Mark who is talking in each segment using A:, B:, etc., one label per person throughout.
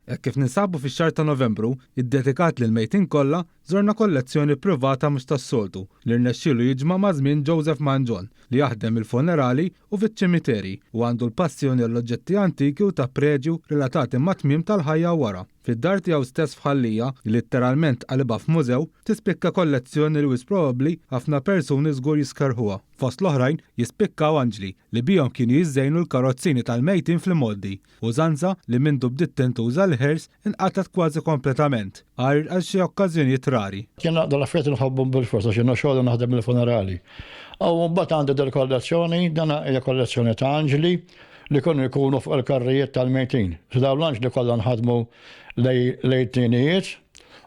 A: Hekk kif ninsabu fix-xahar ta' Novembru, iddedikat lill-mejtin kollha, żorna kollezzjoni privata mhux tas-soltu li rnexxielu jiġma' maż-żmien Joseph Mangion, li jaħdem il-funerali u fiċ-ċimiterji u għandu l-passjoni għall-oġġetti antiki u ta' preġju relatati mat-tmiem tal-ħajja u wara. Fid-dar tiegħu stess f'Ħal Lija, li litteralment qalibha f'mużew, tispikka kollezzjoni li wisq probabbli ħafna persuni żgur jiskerħuha. Fost l-oħrajn, jispikkaw anġli li bihom kienu jiżżejnu l-karozzini tal-mejtin fl-imgħoddi, użanza li mindu bdiet tintuża l-ħirs inqatgħet kważi kompletament, għajr għal xi okkażjonijiet rari. Jien naqdu l-affarijiet
B: inħobbhom bilfors għax jiena xogħli naħdem il-funerali. Aw imbagħad għandi dil-kollezzjoni, dana hija kollezzjoni ta' anġli li kienu jkunu fuq il-karrijiet tal-mejtin. Dawn l-anġli kollha nħadmu lejn it-tnienijiet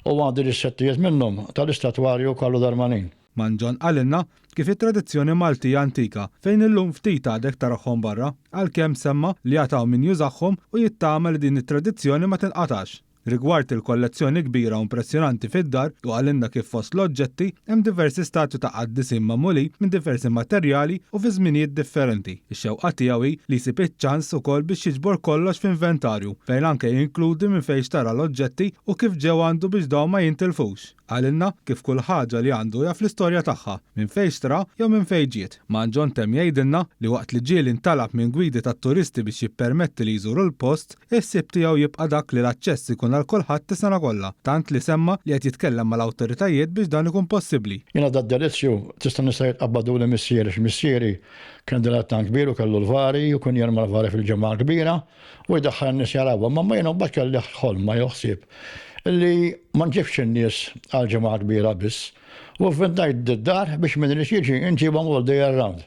B: u għandi dissettijiet minnhom tal-istatwarju Carlo Darmanin. Man John qalilna
A: kif it-tradizzjoni Malti hija antika fejn illum ftit għadek tarahhom barra, għalkemm semma li għad hawn min jużahhom u jittama li din it-tradizzjoni ma tinqatgħax. Rigward il-kollezzjoni kbira u impressjonanti fid-dar hu qalilna kif fost l-oġġetti hemm diversi statwi ta' qaddisin magħmulin minn diversi materjali u fi żminijiet differenti. Ix-xewqa tiegħu hi li jsib iċ-ċans ukoll biex jiġbor kollox f'inventarju fejn anke jinkludi minn fejn xtara l-oġġetti u kif ġew għandu biex dawn ma jintilfux. Qalilna kif kull ħaġa li għandu jaf l-istorja tagħha, minn fejn xtra jew minn fejn ġiet. Mann John temm jgħidilna li waqt li ġieli ntalab minn gwidi tat-turisti biex jippermetti li jżuru l-post, il-ħsieb tiegħu jibqa' dak li l-aċċess ikun għal kulħadd is-sena kollha, tant li semma li qed jitkellem mal-awtoritajiet biex dan ikun possibbli. Jiena Dad Delizio
B: tista' nista' jitqabbaduli missieri għax missieri kien dilettant kbir u kellu l-vari u kien jerma' l-vari fil-ġimgħa l-kbira. u jdaħħal in-nies jarawha, imma jien imbagħad kelli ħolma jew ħsieb li ma nġibx in-nies għal ġimgħa kbira biss, u vvintajt d-dar biex min irid jiġi nġibhom all the year round.